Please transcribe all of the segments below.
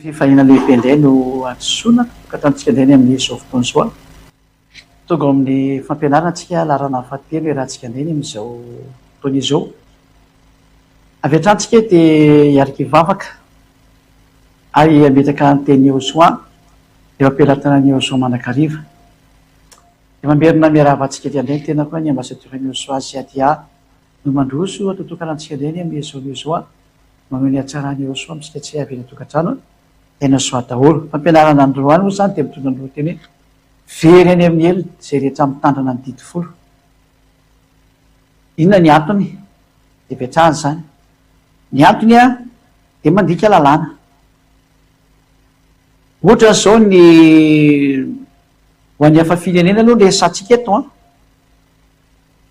Fifaliana lehibe indray no hadisoana ka ataontsika indray ny amin'izao fotoana izao. Tonga ao amin'ny fampianarana antsika laharana fahatelo iarahantsika indray ny amin'izao fotoana izao. Avy hatrany isika dia hiaraka hivavaka Ary ametraka ny tenin'i Yehosua eo am-pelatanan'i Yehosua mandrakariva. Dia mamerina miarahaba antsika ety an-dreny tena koa ny Ambasadior'i Yehosua sy Adia no mandroso ato an-tokana antsika indray ny Yehosua Yehosua mameho ny hatsaran'i Yehosua amintsika tsy hay avela an-tokantrano Yehosua daholo. Fampianarana androany moa izany dia mitondra ny lohateny hoe Very any amin'ny helony izay rehetra mitandrina ny Didy Folo. Inona ny antony hipetrahana izany? Ny antony an! Dia mandika lalàna. Ohatra izao ny ho an'ny hafa firenena aloha no resahantsika eto an!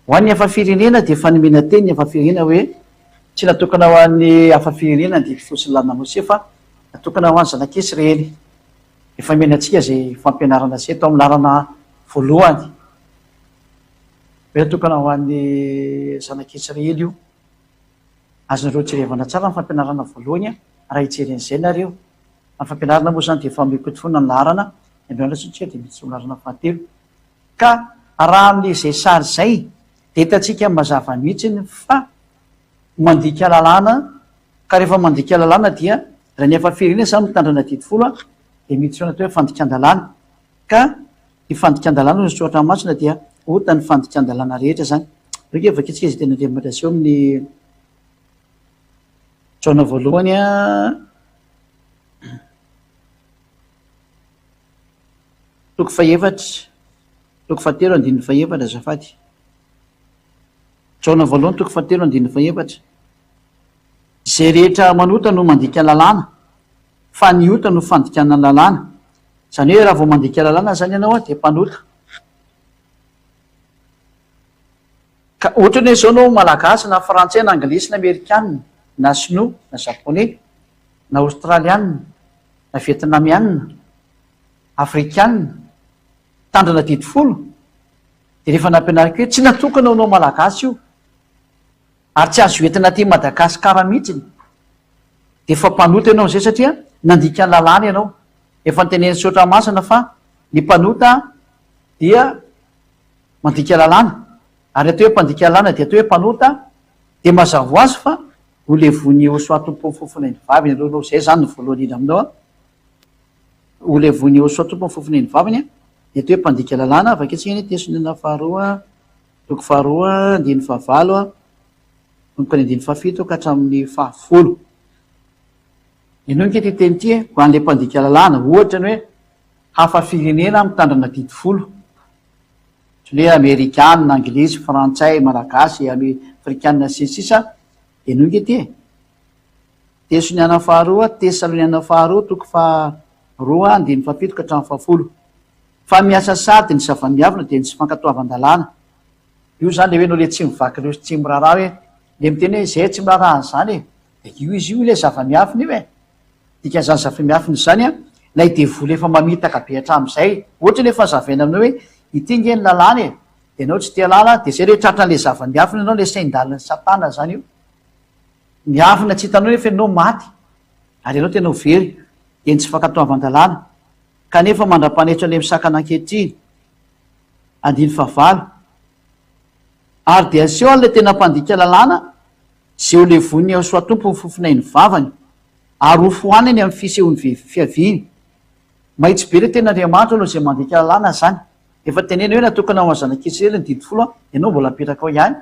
Ho an'ny hafa firenena dia fanomena teny ny hafa firenena hoe tsy natokana ho an'ny hafa firenena ny didy fotsiny lalina Mosesy fa natokana ho an'ny zanak'Isy raely. Efa omena antsika izay fampianarana izay tao amin'ny laharana voalohany hoe natokana ho an'ny zanak'Isy raely io. Azonareo jerevana tsara ny fampianarana voalohany raha hijery an'izay nareo. Fa ny fampianarana moa izany dia efa mioty foana ny laharana, ny andro hianatra isika dia miditra ho laharana fahatelo. Ka raha amin'izay sary izay dia hitantsika mazava mihitsiny fa mandika lalàna, ka rehefa mandika lalàna dia raha ny efa firenena izany mitandrina didy folo dia miditra ao anaty hoe fandikan-dalàna. Ka ny fandikan-dalàna hoy ny soratra masina dia ota ny fandikan-dalàna rehetra izany. Avy eo dia vakintsika izay teny Andriamanitra aseho amin'ny Jaona voalohany toko fahefatra toko fahatelo andininy fahefatra azafady. Jaona voalohany toko fahatelo andininy fahefatra. Izay rehetra manota no mandika ny lalàna fa ny ota no fandikana ny lalàna. Izany hoe raha vao mandika lalàna izany ianao dia mpanota. Ka ohatra hoe izao ianao Malagasy na Frantsay na Anglisy na Amerikana na Sinoa na Japoney na Aostraliana na Vietnamiana, Afrikana, mitandrina didy folo dia rehefa nampianariko hoe tsy natokana ho anao Malagasy io. Ary tsy azo entina aty Madagascar mihitsiny de efa mpanota ianao zay satria nandika ny lalàna ianao, efa notenenin'i Saotra Masina fa ny mpanota dia mandika lalàna ary atao hoe mpandika lalàna dia atao hoe mpanota de mazava ho azy fa ho levon'i Osoa tompon'ny fofona eny vaviny ianareo aloha, zay zany no voalohany indrindra aminao an, ho levon'i Osoa tompon'ny fofona eny vaviny dia atao hoe mpandika lalàna, avy aketsy anie ny teson'inona faharoa. Toko faharoa andininy fahavalo manomboka ny andininy fahafito ka hatramin'ny fahafolo. Henoy ange ity teny ity e, ho an'ilay mpandika lalàna, ohatra, ny hoe hafa firenena mitandrina didy folo, ohatran'ny hoe amerikana, anglisy, frantsay, malagasy, ame, afrikana, sy ny sisa, henoy ange ity e. Tesoniana faharoa, Tesaloniana faharoa, toko faha roa, andininy fahafito ka hatramin'ny fahafolo. Fa miasa sahady ny zava-miavona dia ny tsy fankatoavan-dalàna. Io izany ilay hoe ianao ilay tsy mivaky ireo tsy miraharaha hoe ilay miteny hoe izay tsy miraharaha an'izany e! dia io izy io ilay zava-miafina io e! Dikan'izany zava-miafina izany ilay devoly efa mamitaka be hatramin'izay, ohatra ilay fanazavaina aminao hoe ity ange ny lalàna e! dia ianao tsy te-halala, dia izay ilay tratran'ilay zava-miafina ianao, ilay sain-dalin'i Satana izany io. Ny avona tsy hitanao efa ianao maty ary ianao tena ho very dia ny tsy fankatoavan-dalàna kanefa mandra-panetso an'ilay misakana ankehitriny. Andininy fahavalo. Ary dia aseho an'ilay tena mpandika lalàna izay ho levoin'ny Haosoatompo ny fofonay ny vavany ary ho fohaniny amin'ny fisehoan'ny fiaviany. Mahitsy be ilay Tenin'Andriamanitra aloha izay mandika lalàna izany. Efa tenenina hoe natokana ho an'ny zanak'Israely ny didy folo an, ianao mbola apetraka ao ihany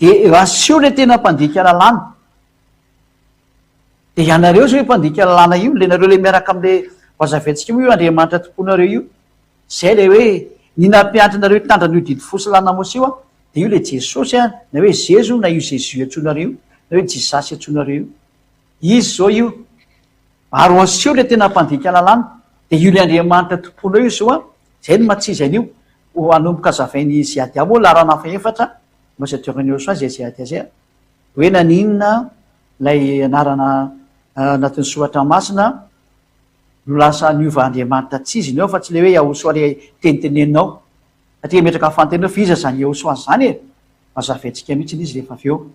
Dia asio ilay tena mpandika lalàna. Dia ianareo izao io mpandika lalàna io, ilay nareo ilay miaraka amin'ilay vazaventsika moa io Andriamanitra tompoinareo io. Izay ilay hoe ny nampianatra anareo hitandrina an'io didy fo sy lalàna Mosesy io an, dia io ilay Jesosy an, na hoe Zezo na io Zezu antsoinareo io, na hoe Jisasy antsoinareo io. Izy zao io ary asio le tena mpandika lalàna de io le Andriamanitra tompoinao io zao a, zay no matsy izy anio ho anomboka azavain'i Ziadia moa laharana fahefatra no sedrain'i Iosoa zay Ziadia zay a, hoe naninona lay anarana anatin'ny soratra masina no lasa niova Andriamanitra tsy izy ny ao fa tsy le hoe Iahosoa le teniteneninao satria metraka fanontaniana hoe fa iza zany Iahosoa zany e, mazava entsika mihitsy izy rehefa avy eo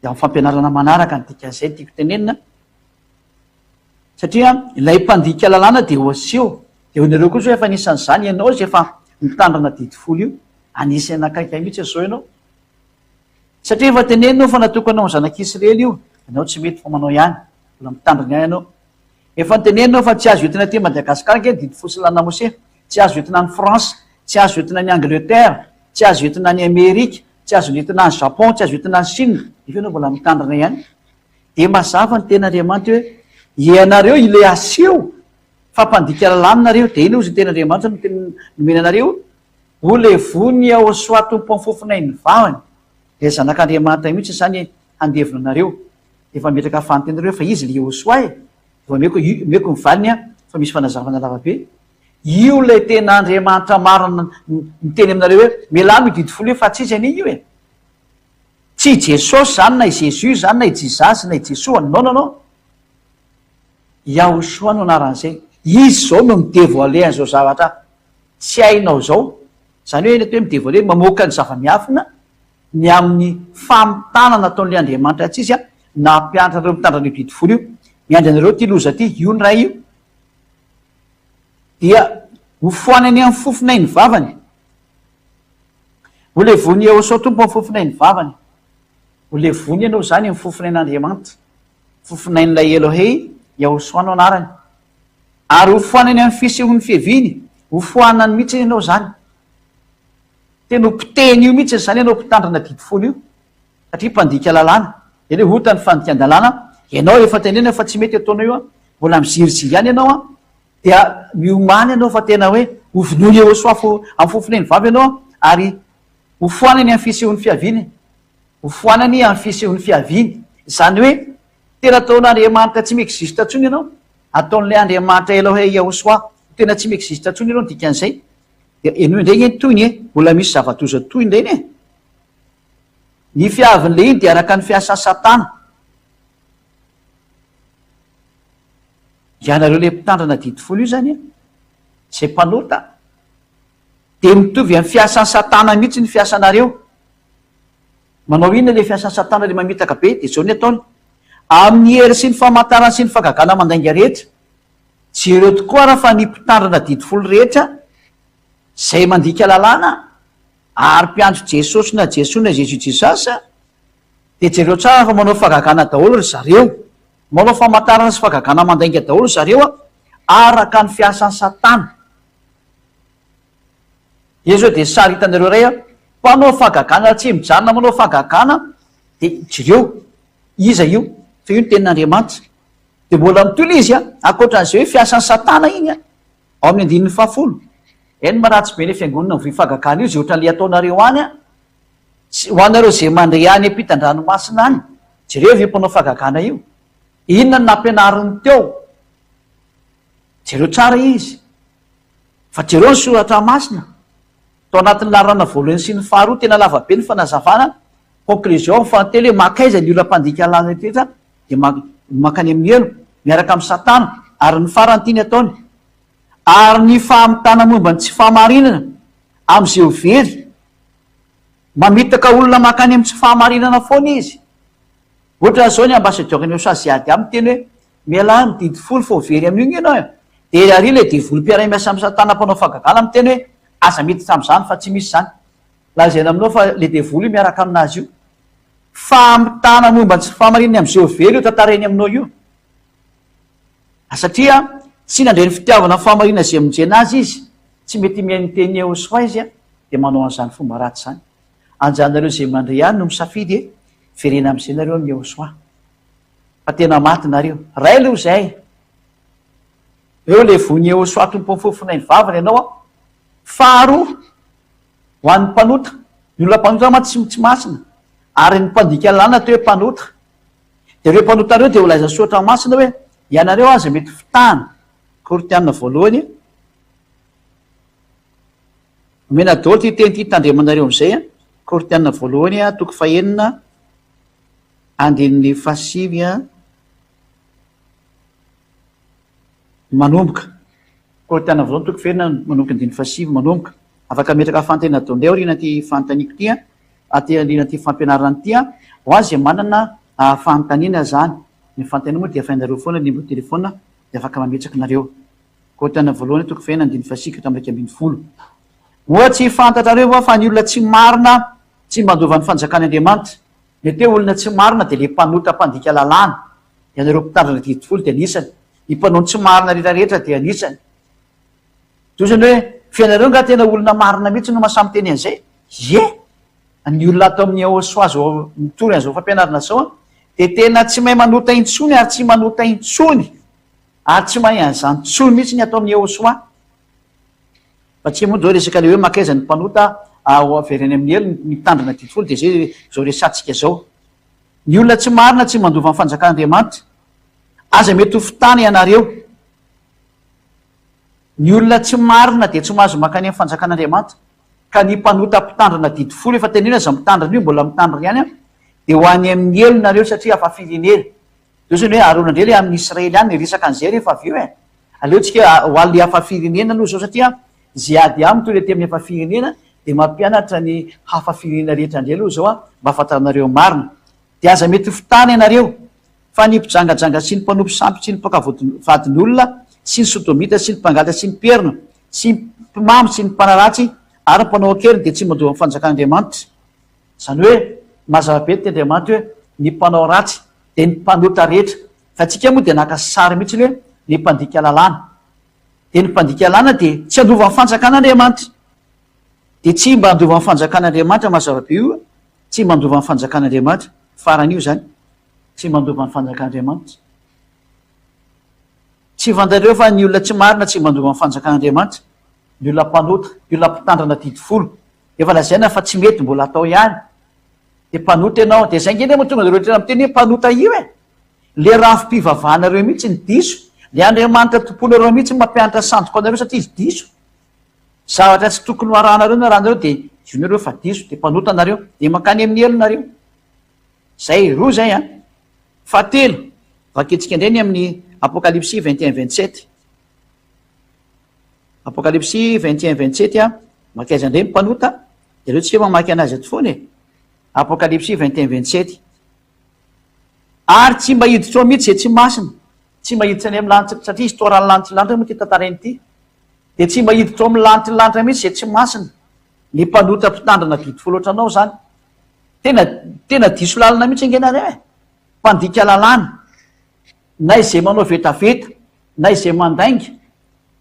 Dia amin'ny fampianarana manaraka ny dikan'izay no tiako tenenina, satria ilay mpandika lalàna dia ho aseho, dia ho hianareo koa izao efa anisan'izany ianao izay efa mitandrina didy folo io, anisan'ny nakaiky ahy mihitsy izao ianao, satria efa teneninao fa natokana ho an'ny zanak'Israely io, ianao tsy mety fa manao ihany, mbola mitandrina ihany ianao. Efa teneninao fa tsy azo entina aty Madagascar ange ny didy folo sy ny lalàna Mosè, Tsy azo entina any France, tsy azo entina any Angleterre, tsy azo entina any Amerika, tsy azo entina any Japon, tsy azo entina any Chine, nefa ianao mbola mitandrina ihany. Dia mazava ny tenin'Andriamanitra hoe, Ianareo ilay aseho fa mpandika lalàna nareo, dia inona ozy ny tenin'Andriamanitra no tena nomeny anareo? O le vony Iahôsoa tompon'ny fofonay ny vavany, ilay Zanak'Andriamanitra mihitsy izany handevina anareo. Dia efa mipetraka fahantenareo fa izy ilay Iahôsoa e! Vao omeko omeko ny valiny aho fa misy fanazavana lavabe. Io ilay tena Andriamanitra marina niteny aminareo hoe melamo io didy folo io fa tsy izy anie io e. Tsy i Jesosy izany na i Jésus izany na i Jizasy na i Jesoa. Non non non. Yahoshua no anaran'izay. Izy izao no mi-devoiler an'izao zavatra tsy hainao izao Izany hoe eny atoa hoe mi-devoiler, mamoaka ny zava-miafina ny amin'ny famitana nataon'ilay Andriamanitra antsika na hampianatra an'ireo mitandrina an'io didy folo io. Miandry anareo ity loza ity, io ny Ray io dia hofoanany amin'ny fofonay ny vavany. Holevony Iehosua Tompo amin'ny fofonay ny vavany. Holevony ianao izany amin'ny fofonain'Andriamanitra, fofonain'ilay Elohei, Iehosua no anarany. Ary ho foana eny amin'ny fisehon'ny fiaviany, ho foanany mihitsy anie ianao izany. Tena ho potehiny io mihitsy izany ianao mpitandrina didy fony io, satria mpandika lalàna. Dia ilay ota ny fandikan-dalàna, ianao efa tenenina fa tsy mety io ataonao io an, mbola mizirizia ihany ianao an, dia miomàna ianao fa tena hoe ho vonoina eo soa fo amin'ny fofon'eny vava ianao an, ary ho foana eny amin'ny fisehon'ny fiaviany, ho foanany amin'ny fisehon'ny fiaviany, izany hoe Tena ataon'Andriamanitra tsy mi-existe intsony ianao, ataon'ilay Andriamanitra Elohey Yahushua tena tsy mi-existe intsony ianao ny dikan'izay. Dia henoy indray anie ny tohiny e! Mbola misy zava-doza tohiny indray anie e! Ny fiavin'ilay iny dia araka ny fiasan'i Satana. Ianareo ilay mpitandrina didy folo io izany e! Izay mpanota. Dia mitovy amin'ny fiasan'i Satana mihitsy ny fiasanareo. Manao inona ilay fiasan'i Satana ilay mamitaka be? Dia izao ny ataony, Amin'ny hery sy ny famantarana sy ny fagagana mandainga rehetra. Jereo tokoa ary fa ny mpitandrina didy folo rehetra, izay mandika lalàna ary mpiandry Jesosy na Jesoa na Jésus Jesus, dia jereo tsara fa manao fagagana daholo ry zareo. Manao famantarana sy fagagana mandainga daholo ry zareo araka ny fiasan'i Satana. Dia zao dia sary hitanareo iray an, mpanao fahagagana tsy mijanona manao fahagagana dia jereo iza io fa io no tenin'Andriamanitra. Dia mbola mitohy ilay izy an, ankoatran'izay hoe fiasan'i satana iny an, ao amin'ny andininy fahafolo. Eny maharatsy be ilay fiangonana mivoy fahagagana io izay ohatran'ilay ataonareo any an, tsy ho anareo izay mandre any ampitan-dranomasina any, jereo io mpanao fahagagana io, inona no nampianariny teo, jereo tsara izy. Fa jereo ny soratra masina, tao anatin'ny laharana voalohany sy ny faharoa, tena lava be ny fanazavana, conclusion amin'ny fahatelo hoe mankaiza ny olam-pandika lalina rehetra dia man, mankany amin'ny helo, miaraka amin'i satana, ary ny farany tiany ataony, ary ny famitana momba ny tsy fahamarinana amin'izay ho very, mamitaka olona mankany amin'ny tsy fahamarinana foana izy, Ohatra izao ny ambassadeur ny usa ziady aminy miteny hoe mialà ny didy folo fa ho very amin'io nge ianao e! dia ery ary ilay devoly mpiaray miasa amin'ny satana mpanao fagagana miteny hoe aza miditra amin'izany fa tsy misy izany lazaina aminao fa ilay devoly io miaraka aminazy io. Famitana momba ny tsy fahamarinany amin'izay ho very io tantarainy aminao io. A satria tsy nandre ny fitiavana ny fahamarinana izay monjena azy izy, tsy mety mihaino ny tenin'i Yehosfa izy dia manao an'izany fomba ratsy izany. Anjanareo izay mandre ihany no misafidy e! Verena amin'izay nareo ny eo soa fa tena maty nareo ray aloha izay eo le voiny eo soa tompon'ny fofonay mivavaka ianao aho faharoa ho an'ny mpanota ny olona mpanota mantsy tsy tsy masina ary ny mpandika lalana atao hoe mpanota dia ireo mpanota ireo dia holaiza soatra masina hoe ianareo aza mety fitahana kortiana voalohany Omena daholo ity teny ity tandremanareo amin'izay an! Korintiana voalohany a, toko fahenina, andininy fahasivy an, manomboka. Korintiana voalohany toko fahenina manomboka andininy fahasivy manomboka. Afaka ametraka fanontaniana daholo indray aoriana ity fanontaniako ity an, aty aoriana ity fampianarana ity an, ho an' izay manana fanontaniana izany. Ny fanontaniana moa dia afainareo foana ny numéro de téléphone dia afaka mametraka nareo. Korinthiana voalohany toko fahefatra andininy fahasivy ka hatramin'ny iraika ambin'ny folo. Moa tsy fantatrareo va fa ny olona tsy marina tsy mba handova ny fanjakan' Andriamanitra? Mety hoe olona tsy marina dia ilay mpanota mpandika lalàna. Ianareo mpitandrina didy folo dia anisany. Ny mpanao ny tsy marina rehetra rehetra dia anisany. Toy izany hoe, fa ianareo angaha tena olona marina mihitsy no mahasahy miteny an'izay? Ie! Ny olona ato amin'ny Eosoa izao mitory an'izao fampianarana izao dia tena tsy mahay manota intsony ary tsy manota intsony. ary tsy mahay an'izany intsony mihitsy ny ataon'i Yehosua, fa tsy moa izao resaka ilay hoe maka aiza ny mpanota ho averiny amin'ny helo ny mitandrina didy folo dia izay izao resahantsika izao. Ny olona tsy marina tsy mandova ny fanjakan'Andriamanitra. Aza mety ho fitana ianareo. Ny olona tsy marina dia tsy mahazo mankany amin'ny fanjakan'Andriamanitra. Ka ny mpanota mpitandrina didy folo, efa teneno aza ny mitandrina io, mbola mitandrina ihany an, dia ho any amin'ny helo nareo satria hafa firenena. Zao zany hoe aharoana indray le amin'ny Israely any resaka an'izay rehefa avy eo e! Aleo tsika ho an'le hafa firenena aloha zao satria ze ady aminy toy le aty amin'ny hafa firenena de mampianatra ny hafa firenena rehetra indray aloha zao mba hahafantaranareo ny marina. De aza mety ho fitana ianareo fa ny mpijangajanga sy ny mpanompo sampy sy ny mpaka vadin'olona sy ny sodomita sy ny mpangalatra sy ny mperina sy ny mpimamy sy ny mpanaratsy ary ny mpanao an-keriny de tsy mandoa ny fanjakan'Andriamanitra. Izany hoe mazava be ny teny Andriamanitra hoe ny mpanao ratsy dia ny mpanota rehetra fa antsika moa dia naka sary mihitsiny hoe ny mpandika lalàna dia ny mpandika lalàna dia tsy handova ny fanjakana Andriamanitra dia tsy mba handova ny fanjakana Andriamanitra mazava be io tsy mba handova ny fanjakana Andriamanitra farany io izany tsy mba handova ny fanjakana Andriamanitra tsy fantatreo fa ny olona tsy marina tsy mba handova ny fanjakana Andriamanitra ny olona mpanota ny olona mpitandrina didy folo Efa lazaina fa tsy mety mbola atao ihany. Dia mpanota ianao. Dia izay nge anie mahatonga anareo rehetra miteny hoe mpanota io e! Ilay rafi-pivavahanareo mihitsy no diso. Ilay Andriamanitra tomponareo mihitsy no mampianatra sandoka anareo satria izy diso. Zavatra tsy tokony ho arahanareo ny rahanareo dia zonareo fa diso. Dia mpanota nareo. Dia mankany amin'ny helo nareo. Izay, roa izay an. Fahatelo, vakintsika indray ny amin'ny Apokalypsy vingt et un vingt sept. Apocalypsy vingt et un vingt sept a, maka aiza indray ny mpanota? Ianareo tsika mamaky anazy eto foana e! Apocalypsy vingt et un vingt sept, Ary tsy mba hiditra ao mihitsy izay tsy masina, tsy mba hiditra any amin'ny lanitra, satria histoire an'ny lanitry ny lanitra moa ity tantarainy ity, dia tsy mba hiditra ao amin'ny lanitry ny lanitra mihitsy izay tsy masina, ny mpanota mpitandrina beautiful ohatranao izany, tena tena diso lalana mihitsy ange ianareo e! Mpandika lalàna, na izay manao vetaveta, na izay mandainga,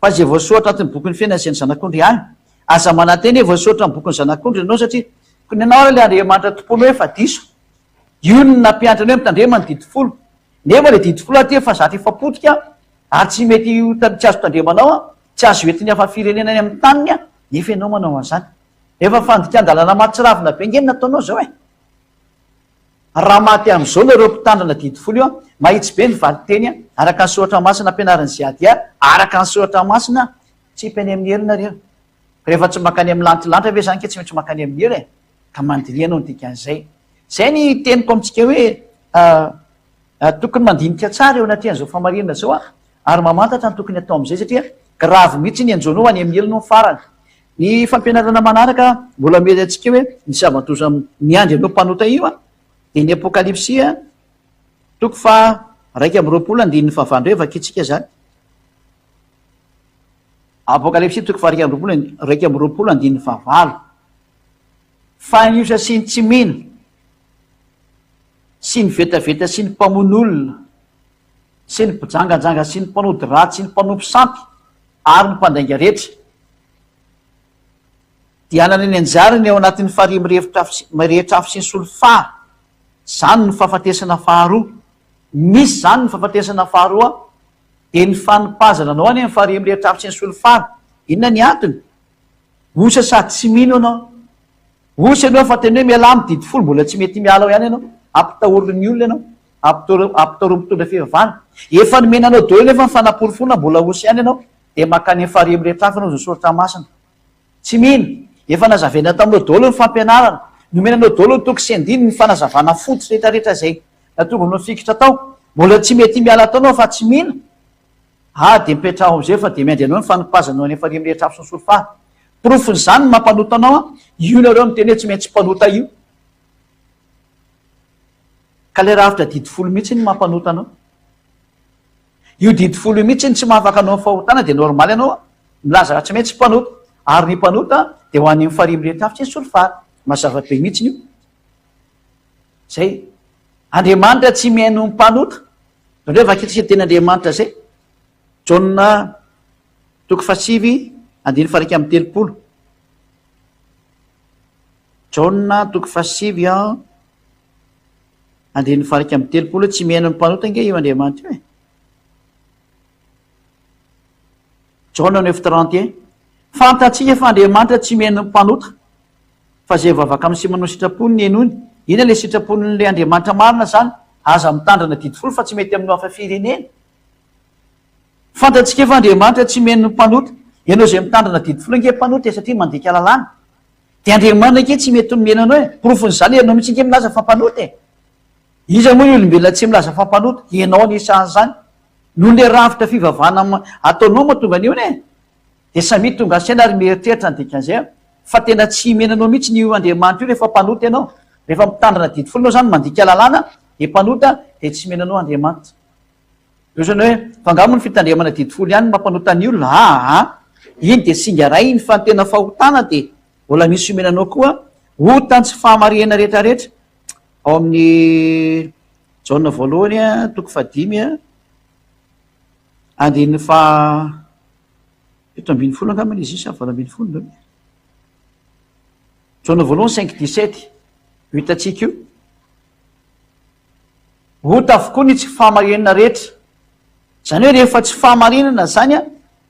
fa izay voasoratra anatin'ny bokin'ny fiainana izay ny zanak'ondry ihany. Aza manantena hoe voasoratra ny bokin'ny zanak'ondry ianao satria koa ny anao ary ilay Andriamanitra tompoinao efa diso. Io no nampianatra anao hoe mitandrema ny didy folo. Nefa ilay didy folo aty efa zatra efa potika ary tsy mety tsy azo tandremanao an, tsy azo entin'ny hafa firenena any amin'ny taniny an, nefa ianao manao an'izany. Efa fandikan-dalana mahatsiravina be ange no nataonao izao e! Raha maty amin'izao nareo mpitandrina didy folo io, mahitsy be ny valinteny, araka ny soratra masina ampianarin'i Ziadia, araka ny soratra masina, tsy hipy any amin'ny helo nareo. Rehefa tsy mankany amin'ny lantilanitra ve izany ka tsy maintsy mankany amin'ny helo e? Ka mandiniha no dikan'izay. Izay ny teniko amintsika hoe tokony mandinika tsara eo anatrehan'izao fahamarinana izao ary mamantatra ny tokony hatao amin'izay satria grave mihitsy ny enjono any amin'ny helo no farany. Ny fampianarana manaraka mbola miely antsika hoe ny zava-doza miandry an'io mpanota io dia ny Apokalypsy toko faha iraika amby roapolo andininy faha valo indray vakintsika izany. Apokalypsy toko faha iraika amby roapolo, iraika amby roapolo andininy faha valo. Fa ny osa sy ny tsy mino sy ny vetaveta sy ny mpamono olona, sy ny mpijangajanga sy ny mpanody ratsy sy ny mpanompo sampy ary ny mpandainga rehetra dia hanana ny anjarany ao anatin'ny farihy mirefitra afo sy mirehitra afo sy ny solifara. Izany no fahafatesana faharoa. Misy izany ny fahafatesana faharoa dia ny fanipazana anao any amin'ny farihy mirehitra afo sy ny solifara. Inona ny antony? Osa sady tsy mino ianao. Osa ianao efa tena hoe mialà amin'ny didifolo mbola tsy mety miala ao ihany ianao, ampitahorin'ny olona ianao. Ampitoro mpitondra fivavahana. Efa nomena anao daholo nefa ny fanaporofoana mbola osy ihany ianao dia maka any amin'ny farihy mirehitra hafa ianao izay soratra masina. Tsy mino. Efa nazavaina taminao daholo ny fampianarana. Nomena anao daholo ny toko sy andininy, ny fanazavana fototra rehetra rehetra izay natongavana fikitra tao. Mbola tsy mety miala tao ianao fa tsy mino? Aa dia mipetraha ao amin'izay fa dia miandry anao ny fanopazana ao any amin'ny farihy mirehitra hafa sy ny sorofaha. Porofon'izany ny maha mpanota anao an. Io nareo miteny hoe tsy maintsy mpanota io. Ka ilay rafitra didy folo mihitsy no mampanota anao. Io didy folo io mihitsy no tsy mahafaka anao amin'ny fahotana dia normal ianao milaza raha tsy maintsy mpanota. Ary ny mpanota dia ho any amin'ny farihy mirehitra afo sy ny solifara. Mazava be mihitsy io. Zay. Andriamanitra tsy mihaino ny mpanota. Zandreo vakitsika ny teny Andriamanitra zay. Jaona toko fahasivy andininy faharaika amby telopolo. Jaona toko fahasivy an. Andrian'ny varika amin'ny telopolo tsy mihaino ny mpanota ange io Andriamanitra io e! Jaona neuf trente et un fantatsika fa Andriamanitra tsy mihaino ny mpanota fa izay vavaka amin'ny sy manao sitrapony ny henoiny, inona ilay sitrapon'ilay Andriamanitra marina izany? Aza mitandrina didy folo fa tsy mety aminao hafa firenena. Fantatsika fa Andriamanitra tsy mihaino ny mpanota, ianao izay mitandrina didy folo ange mpanota e satria mandika lalàna. Dia Andriamanina ange tsy mety nomena anao e! Porofon'izany ianao mihitsy ange milaza fa mpanota e! Iza moa ny olombelona tsy milaza fa mpanota? Ianao anisan'izany! Noho ilay rafitra fivavahana ataonao mahatonga an'ihony e! Dia samia tonga ansaina ary mieritreritra ny dikan'izay aho, fa tena tsy himena anao mihitsy ny io Andriamanitra io rehefa mpanota ianao! Rehefa mitandrina didy folo ianao izany, mandika lalàna, dia mpanota, dia tsy himena anao Andriamanitra. Ohatrany hoe fa nga moa ny fitandremana didy folo ihany no mampanota ny olona a a! Iny dia singa iray iny fa ny tena fahotana dia mbola misy omenanao koa ota ny tsy fahamarihana rehetrarehetra ao amin'ny Jaona voalohany a, toko fahadimy a, andininy faha fito ambin'ny folo angambany izy io sa valo ambin'ny folo ve? Jaona voalohany cinq dix sept io hitantsika io. Ota avokoa ny tsy fahamarinana rehetra. Izany hoe rehefa tsy fahamarinana izany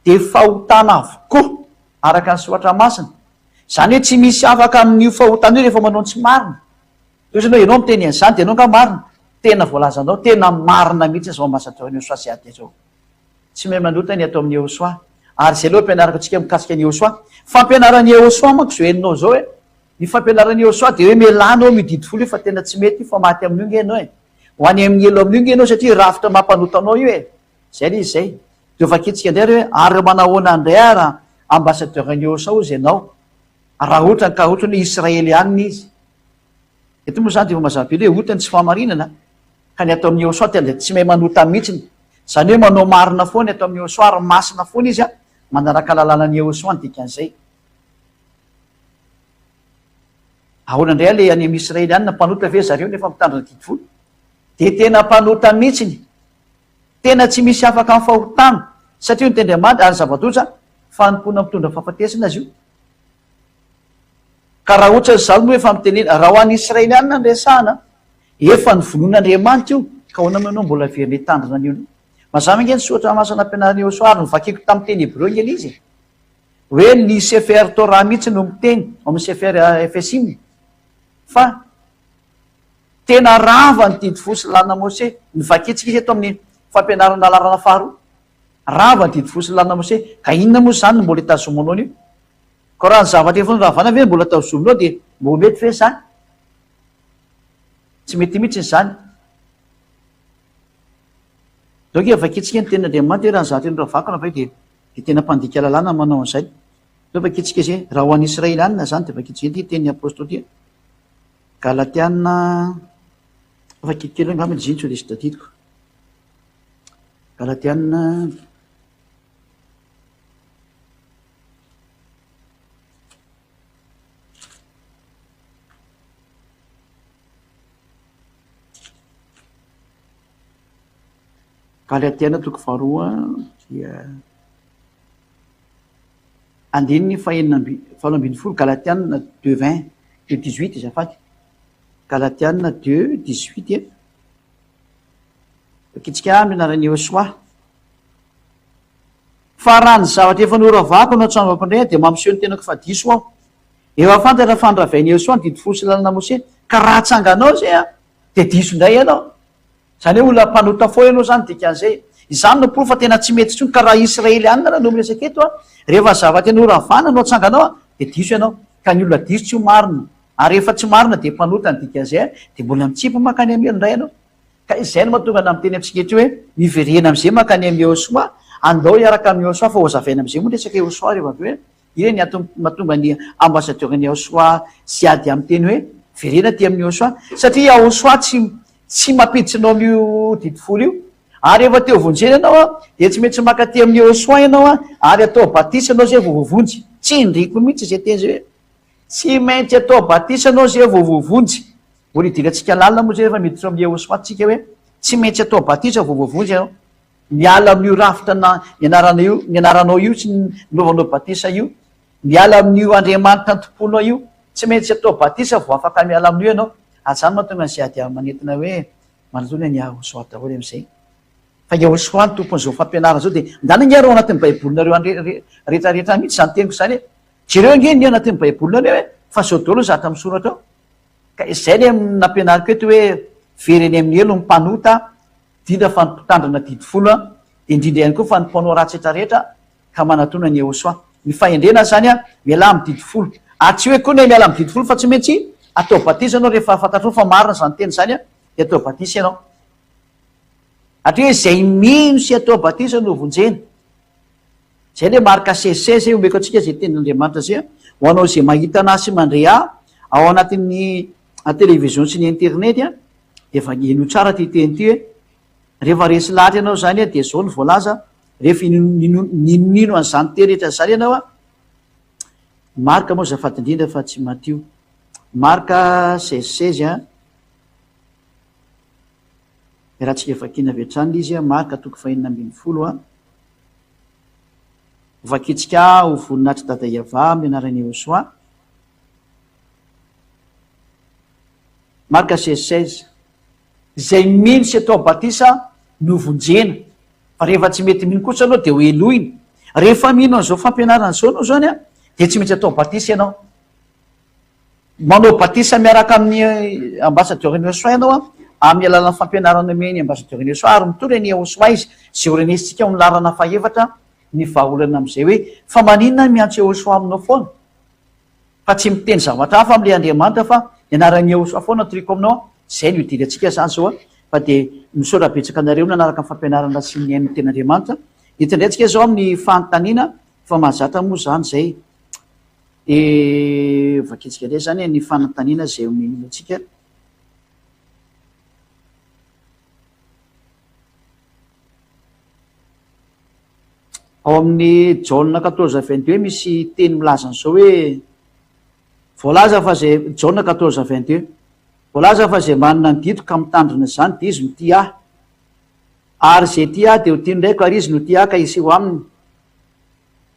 dia fahotana avokoa araka ny soratra masina. Izany hoe tsy misy afaka amin'io fahotana io rehefa manao ny tsy marina. Toy izany hoe ianao miteny an'izany dia ianao angaha marina? Tena voalazanao tena marina mihitsy izao ambasadaoro an'i Iosoa sy Adia izao. Tsy mahay manota ny atao amin'i Iehosoa. Ary izay aloha ampianarako antsika mikasika an'i Iehosoa. Fampianaran'i Iehosoa manko izao henonao izao e. Ny fampianaran'i Yehosua dia hoe mialà anao amin'io didy folo io fa tena tsy mety io fa maty amin'io nge ianao e! Ho any amin'ny helo amin'io nge ianao satria rafitra mampanota anao io e! Izay ilay izy izay. Dia ho vakitsika indray ary hoe ary manahoana indray ary an, ambassadeur-n'i Yehosua hozy ianao raha ohatrany ka ohatrany hoe Israely ihany ny izy. Eto moa izany dia efa mazava be ilay ohatany tsy fahamarinana ka ny ato amin'i Yehosua tena dia tsy mahay manota mihitsiny. Izany hoe manao marina foana ny ato amin'i Yehosua ary masina foana izy an, manaraka lalànan'i Yehosua ny dikan'izay. Ahoana indray anie any amin'ny Israelianina, mpanota ve zareo nefa mitandrina didy folo? Dia tena mpanota mihitsiny, tena tsy misy afaka amin'ny fahotana, satria nitendry aman-dry ary zava-doza, fanompoana mitondra fahafatesana izy io. Ka raha ohatra izaho no efa mitenena, raha ho an'ny Israelianina no resahana, efa novonoin' Andriamanitra io, ka ahoana moa ianao mbola very nitandrina an'io? Mazava ange ny soratra masina nampianarin'i Iosoa, ary novakiko tamin'ny teny hebreo ange ilay izy e! hoe ny Sefer Torah mihitsy no miteny ao amin'ny Sefer Efesiny fa tena rava ny didy fo sy lalina Mose. Ny vakintsika izy eto amin'ny fampianarana lalarana faharoa. Rava ny didy fo sy lalina Mose. Ka inona moa izany no mbola itazomanao an'io? Ka raha ny zavatra efa noravana ve no mbola tazominao dia mbola mety ve izany? Tsy mety mihitsy izany. Dok efa vakintsika ny tenin'Andriamanitra hoe raha ny zavatra noravako no avy eo dia dia tena mpandika lalàna ny manao an'izay. Toy ny vakitsika izay, raha ho an'ny Israelianina izany dia vakitsika izay ity tenin'ny apostoly ity, Galatiana, vakiko kely eo angamba ilay izay no tsy ho resy tadidiko, Galatiana, Galatiana toko faharoa dia andininy fahenina amby valo ambin'ny folo Galatiana deux vingt deux dix huit azafady Galatiana deux dix huit e vakitsika amin'ny anaran'i Iosoa fa raha ny zavatra efa noravako no atsangako indray dia mampiseho ny tenako fa diso aho efa fantatra fa niravain'i Iosoa ny didy folo sy ny lalana Mose ka raha atsanganao izay a Dia diso indray ianao. Izany hoe olona mpanota fo ianao izany dikan'izay. Izany no porofo fa tena tsy mety intsony ka raha Israelianina no miresaka eto rehefa zavatra tena horavana no atsanganao dia diso ianao. Ka ny olona diso tsy ho marina ary rehefa tsy marina dia mpanota ny dikan'izay dia mbola mitsipy mankany amin'ny helo indray ianao. Ka izay no mahatonga anà miteny amintsika eto hoe miverena amin'izay mankany amin'ny Yehosua, andao hiaraka amin'i Yehosua fa hozavaina amin'izay moa ny resaka Yehosua rehefa avy eo e. Eny, antony mahatonga ny ambasadiôran'i Yahoshuah tsy hiady amin'ny teny hoe verena aty amin'i Yahoshuah, satria Yahoshuah tsy, tsy mampiditra anao amin'io didy folo io. Ary rehefa te-ho vonjena ianao, dia tsy maintsy maka aty amin'i Yahoshuah ianao ary atao batisa ianao izay vao voavonjy. Tsindriko mihitsy izay teny izay hoe, Tsy maintsy atao batisa ianao izay vao voavonjy. Mbola idirantsika lalina moa izay rehefa miditra ao amin'i Yahoshuah tsika hoe, Tsy maintsy atao batisa vao voavonjy ianao. Miala amin'io rafitra na nianarana io, nianaranao io tsy nilovanao batisa io. Miala amin'io Andriamanitra nitompoanao io. Tsy maintsy atao batisa vao afaka miala amin'io ianao. Aza ny mahatonga an'izay ady amin'ny manentana hoe manontolo ny an'i Yahushua daholo amin'izay. Fa Yahushua no tompon'izao fampianarana izao dia ndana ange ary ao anatin'ny baibolinareo any rehetra rehetra any mihitsy izany teniko izany e. Jereo ange ny ao anatin'ny baibolinareo e, fa izao daholo ny zavatra misoratra ao. Ka izay ilay nampianariko eto hoe very any amin'ny helo ny mpanota, Dina fa ny mpitandrina didy folo an, dia indrindra ihany koa fa ny mpanao ratsy hetra rehetra ka manatona an'i Yehosua. Ny fahendrena izany an, mialà amin'ny didy folo. Ary tsy hoe koa ny miala amin'ny didy folo fa tsy maintsy atao batisa ianao rehefa fantatrao fa marina izany teny izany an, dia atao batisa ianao. Hatria hoe izay mino sy atao batisa no vonjena. Izay ilay marika CC izay omeko antsika izay tenin'Andriamanitra izay ho anao izay mahita an'ahy sy mandre ahy ao anatin'ny television sy ny internet dia efa henoy tsara ity teny ity hoe rehefa resy lahatra ianao izany dia izao ny voalaza rehefa ninonino an'izany teny rehetra izany ianao a marika moa zafady indrindra fa tsy matio marika seize seize a raha tsika vakina avy hatrany izy a marika toko fahenina ambin'ny folo a Vakitsika ho voninahitr'i Dada Iavah amin'ny anaran'i Yehosua. Marka seize seize. Izay mino sy atao batisa no vonjena, fa rehefa tsy mety mino kosa ianao dia ho helohina. Rehefa mino an'izao fampianarana izao ianao izany dia tsy maintsy atao batisa ianao. Manao batisa miaraka amin'i Ambassadeur Innosoa ianao an, amin'ny alalan'ny fampianarana omen'i Ambassadeur Innosoa ary mitory an'i Eosoa izy izay ho renesintsika ao amin'ny laharana fahefatra ny vahaolana amin'izay hoe fa maninona ny miantso Eosoa aminao foana fa tsy miteny zavatra hafa amin'ilay Andriamanitra fa ny anaran'i Eosoa foana no toriako aminao an, izay no idirantsika izany izao an, fa dia misaotra betsaka anareo nanaraka ny fampianarana sy nihaino ny tenin'Andriamanitra, eto indray tsika izao amin'ny fanontaniana fa mahazatra moa izany izay? Dia vakitsika indray izany ny fanontaniana izay omeny antsika. Ao amin'ny Jaona quatorze vingt deux misy teny milaza an'izao hoe voalaza fa izay Jaona quatorze vingt deux voalaza fa izay manana ny didiko ka mitandrina izany dia izy no tia ahy ary izay tia ahy dia ho tian'ny Raiko ary izy no tia ahy ka hiseho aminy.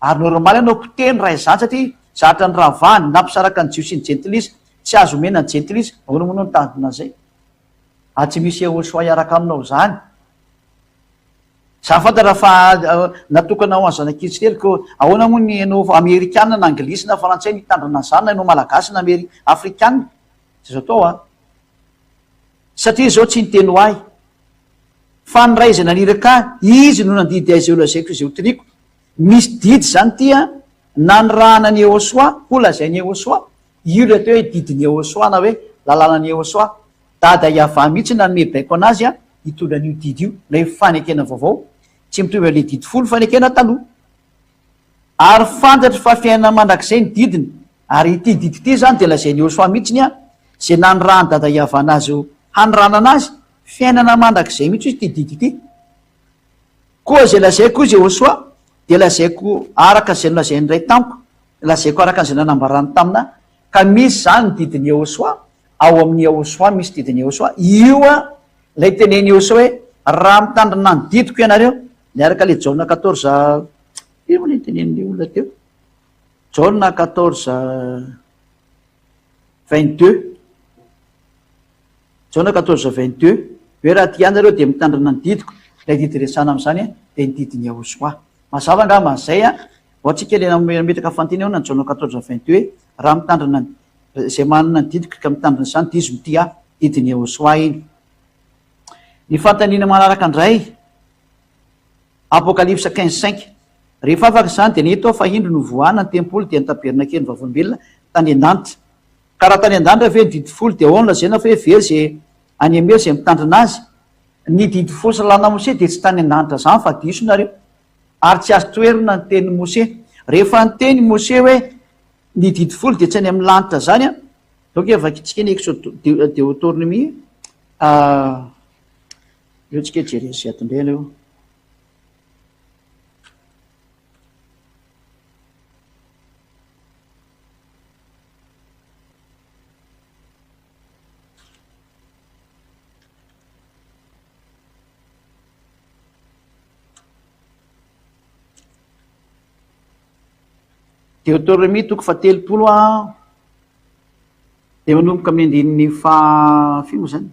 Ary normal ianao potehiny raha izany satria zatra ny ravahany na mpisaraka ny jiosy sy ny jentilisa tsy azo omena ny jentilisa ahoana moa ianao no tanjona an'izay ary tsy misy Yehosua hiaraka aminao izany za fantatra fa natokana ho an'ny zanak'Israely ko ahoana moa ny ianao amerikana na anglisy na frantsay mitandrina an'izany na ianao malagasy na afrikana izay azo atao an satria izao tsy niteny ho ahy Fa ny ray izay naniraka ahy, izy no nandidy ahy izay holazaiko izay hotoriako. Misy didy izany ity an! Nanirahana an'i Yehosua, holazain'i Yehosua. Io ilay atao hoe didin'i Yehosua na hoe lalànan'i Yehosua. Dada Yavah mihitsy no nanome baiko an'azy hitondra an'io didy io, na hoe fanekena vaovao. Tsy mitovy amin'ilay didy folo fanekena taloha. Ary fantatro fa fiainana mandrakizay ny didiny, ary ity didy ity izany dia lazain'i Yosua mihitsy ny izay nanirahan'i Dada Yavan azy haniranana azy, fiainana mandrakizay mihitsy hoy ity didy ity. Koa izay lazaiko hoy Yosua dia lazaiko araka izay nolazain'ny Ray tamiko, lazaiko araka an'izay nanambarany tamina, ka misy izany ny didin'i Yosua, ao amin'i Yosua misy didin'i Yosua, io ilay tenenin'i Yosua hoe, Raha mitandrina ny didiko ianareo, Miaraka le Jaona quatorze ino moa le nitenenin'le olona teo? Jaona quatorze vingt deux, Jaona quatorze vingt deux, hoe raha tia anareo dia mitandrina ny didiko, ilay didy resahana amin'izany a dia ny didin'i Yahosoa. Mazava angamba izay a, vao antsika le nametraka fantina eo na ny Jaona quatorze vingt deux hoe raha mitandrina ny izay manana ny didiko ka mitandrina izany dia izy no tia ahy, didin'i Yahosoa iny. Ny fanontaniana manaraka indray, Apokalypsa quinze cinq, Rehefa afaka izany, dia nahita aho fa indro novoahana ny tempoly dia ny tabernakeliny vaovolombelona tany an-danitra. Ka raha tany an-danitra ve ny didy folo, dia ahoana izay na hoe very izay any amin'ny hery izay mitandrina azy? Ny didy folo salanan'i Mosesy dia tsy tany an-danitra izany fa diso nareo ary tsy azo toherina ny tenin'i Mosesy. Rehefa niteny i Mosesy hoe. Ny didy folo dia tsy any amin'ny lanitra izany an! Izao ange vakintsika ny Exode Deotornomia, aleo tsika hijery an'i Ziadonbe aleo. Deoterômia toko fahatelopolo a dia manomboka amin'ny andininy faha firy moa izany?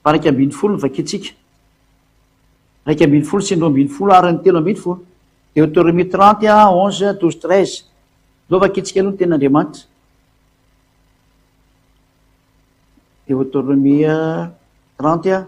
Faha iraika ambin'ny folo no vakintsika. Iraika ambin'ny folo sy ny roa ambin'ny folo ary ny telo ambin'ny folo. Deoterômia trente et un, onze, douze, treize. Aleo vakintsika aloha ny tenin'Andriamanitra. Deoterômia trente et un.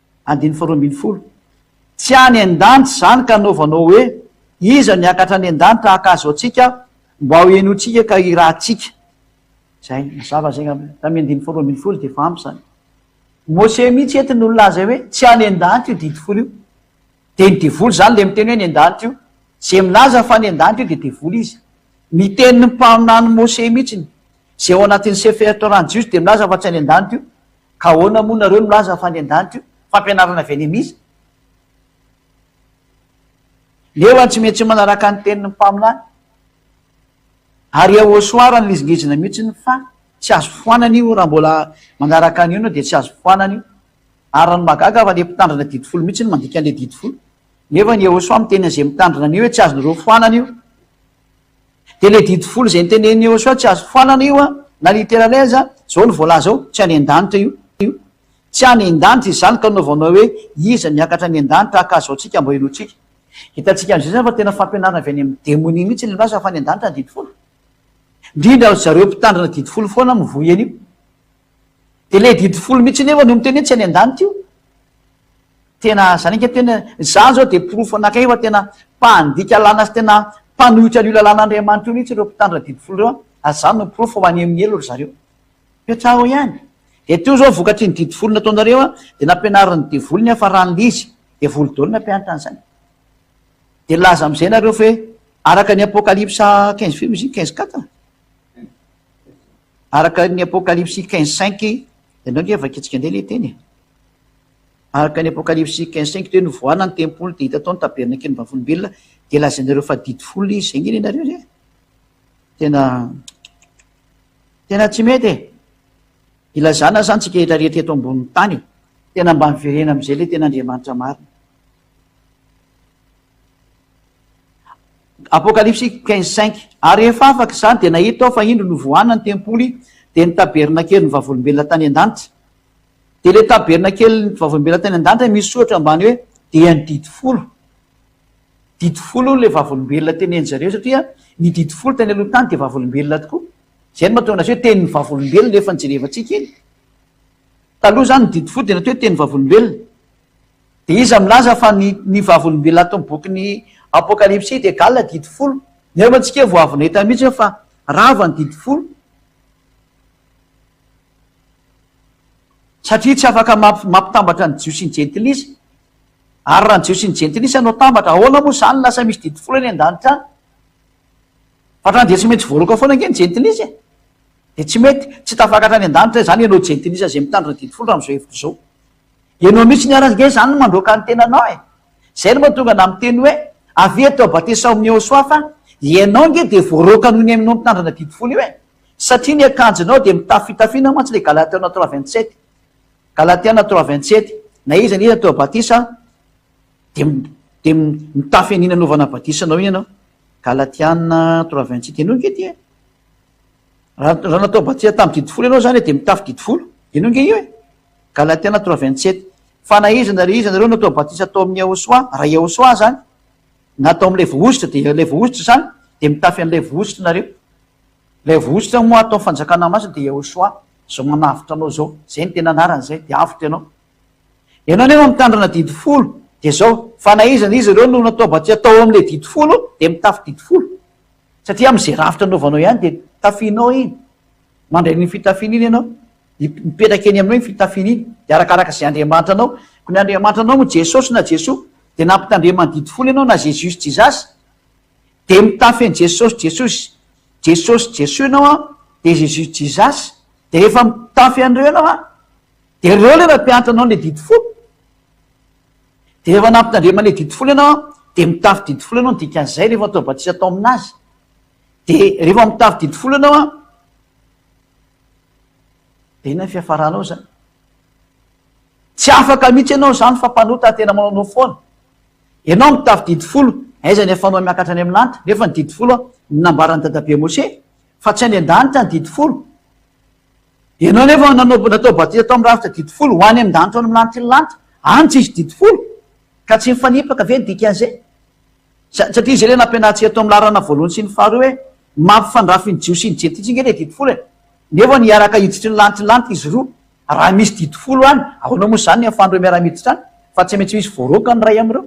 Andininy faharoa ambin'ny folo. Tsy any an-danitra izany ka anaovanao hoe, Iza no hiakatra any an-danitra haka azy ao antsika, mba hohenointsika ka hirahantsika? Izay, mazava izay angamba, tamin'ny andininy faharoa ambin'ny folo dia efa ampy izany. Mose mihitsy eto no nilaza hoe, tsy any an-danitra io didy folo io. Dia ny devoly izany ilay miteny hoe any an-danitra io. Izay milaza fa any an-danitra io dia devoly izy. Ny tenin'ny mpaminany Mose mihitsy, izay ao anatin'ny Sefer Torah-n'ny Jiosy dia milaza fa tsy any an-danitra io. Ka ahoana moa nareo milaza fa any andanitra io? Fampianarana avy any amiza? Leo an tsy metsy manaraka ny tenin'ny mpaminany. Ary eo au soir no lizingizina mihitsiny fa tsy azo foanana io raha mbola manaraka an'io enao dia tsy azo foanana io. Ary ny mahagaga fa le mpitandrina didy folo mihitsy no mandika an'le didy folo. Nefa ny eo au soir miteny an'ze mitandrina an'io hoe tsy azonareo foanana io. Dia ilay didy folo izay notenenin'i Yehosua tsy azo foanana io an, na literally aza, izao no voalaza ao, tsy any an-danitra io. Tsy any an-danitra izy izany ka nanaovanao hoe iza miakatra any an-danitra haka azy izao tsika mba henointsika. Hitantsika amin'izay izany fa tena fampianarana avy any amin'ny demonia mihitsy ilay milaza fa any an-danitra ny didy folo. Indrindra ry zareo mpitandrina didy folo foana mivoy an'io. Dia ilay didy folo mihitsy anefa no miteny hoe tsy any an-danitra io. Tena izany ange tena, izaho izao dia porofo anankiray fa tena mpandika lalàna sy tena mpanohitra an'io lalàn'Andriamanitra io mihitsy ireo mpitandrina didy folo ireo an! ary izany no porofo fa maneho ny helo ry zareo. Toetrao ihany. Dia teo izao vokatr'iny didy folo nataonareo an, dia nampianarin'ny devoly ny hafaran'ilay izy. Devoly daholo nampianatra an'izany. Dia nilaza amin'izay nareo fa hoe araka ny Apokalypsa quinze feu izy iny, quinze quatre? Araka ny Apokalypsy quinze cinq, ianao ange vakintsika indray ilay teny e! araka ny Apokalypsy quinze cinq dia hoe novoahana ny tempoly dia hita tao ny tabernakelin'ny vavolombelona dia lazainareo fa didy folo izy, izay ange ilay nareo re! tena tena tsy mety e! ilazana izany tsika rehetra rehetra eto ambonin'ny tany e! tena mba miverena amin'izay ilay tena Andriamanitra marina. Apokalypsy quinze cinq Ary rehefa afaka izany, dia nahita aho fa indro novoahana ny tempoly, dia ny tabernakelin'ny vavolombelona tany an-danitra. Dia ilay tabernakelin'ny vavolombelona tany an-danitra misy soratra ambany hoe, dia ny didy folo. Didy folo hono ilay vavolombelona tenenin-dry zareo, satria ny didy folo tany aloha tany dia vavolombelona tokoa. Izay no mahatonga azy hoe tenin'ny vavolombelona efa nojerevantsika iny. Taloha izany ny didy folo dia natao hoe tenin'ny vavolombelona. Iza milaza fa ny ny vavolombelona ato amin'ny bokin'ny Apokalypsy dia galona didy folo? Nefa antsika vao avy nahita mihitsy hoe fa rava ny didy folo. Satria tsy afaka mampitambatra ny Jiosy sy ny Jentilisa. Ary raha ny Jiosy sy ny Jentilisa no atambatra, ahoana moa izany no lasa misy didy folo eny an-danitra any? Fa hatrany dia tsy maintsy voaroaka foana ange ny Jentilisa e! Dia tsy mety, tsy tafakatra any an-danitra izany ianao Jentilisa izay mitandrina didy folo raha amin'izao hevitra izao. Ianao mihitsy ny ara nge zany no mandroaka ny tenanao e! Zay no mahatonga anah miteny hoe avia eto abatesao amin'i Yehosua fa ianao nge dia voaroaka noho ny hainonao mitandrina ny adidy folo io e! Satria ny akanjonao dia mitafy fitafiana mantsy ilay Galatiana trois vingt sept Galatiana trois vingt sept na iza na iza atao batisa dia dia mitafy an'iny anaovana batisa anao iny ianao Galatiana trois vingt sept ianao nge dia Raha natao batsia tamin'ny didy folo ianao izany dia mitafy didy folo. Eny ange io e! Galatiana trois vingt sept. Fa na iza na ry iza anareo natao batisa tao amin'i Yahoshuah, raha i Yahoshuah izany, na tao amin'ilay vohositra, dia ilay vohositra izany, dia mitafy an'ilay vohositra nareo. Ilay vohositra moa ato amin'ny fanjakana masina dia Yahoshuah, izao manavotra anao izao. Izay no tena anarany izay, dia avotra ianao. Ianao anefa mitandrina didy folo, dia izao, fa na iza na iza ireo no natao batisa tao amin'ilay didy folo dia mitafy didy folo. Satria amin'izay rafitra anaovanao ihany dia tafianao iny. Mandray an'iny fitafiana iny ianao. Mipetraka eny aminao iny fitafiana iny. Dia arakaraka izay Andriamanitra anao. Koa ny Andriamanitra anao moa Jesosy na Jesoa. Dia nampitandremany didy folo ianao na Zezusy Jizasy. Dia mitafy an'i Jesosy Jesosy. Jesosy Jesoa ianao an, dia Zezusy Jizasy. Dia rehefa mitafy an'ireo ianao an, dia ireo ilay nampianatra anao ilay didy folo. Dia rehefa nampitandraman'ilay didy folo ianao an, dia mitafy didy folo ianao ny dikan'izay rehefa atao batisa atao amin'azy. Dia rehefa mitafy didy folo ianao an, dia inona ny fiafaranao izany? Tsy afaka mihitsy ianao izany fa mpanota tena manaonao foana. Ianao mitafy didy folo, aiza ny ahafahanao miakatra any amin'ny lanitra? Nefa ny didy folo an, ny nambaran'i dadabe Mose, fa tsy any an-danitra ny didy folo. Ianao anefa nanao natao batisa tao amin'ny rafitra didy folo, ho any amin-danitra ao amin'ny lanitra lanitra, any tsisy didy folo, ka tsy mifanipaka ve ny dikan'izay? Sa, satria izay ilay nampianarintsika tao amin'ny laharana voalohany sy ny faharoa hoe ny maha mpifandrafy ny Jiosy sy ny Jentilisa ange ilay didy folo e! Nefa ny hiaraka hiditry ny lanitra lanitra izy roa, raha misy didy folo any, ahoana moa izany ny amin'ny faharoa miara-miditra any, fa tsy maintsy misy voaroaka ny iray amin'ireo?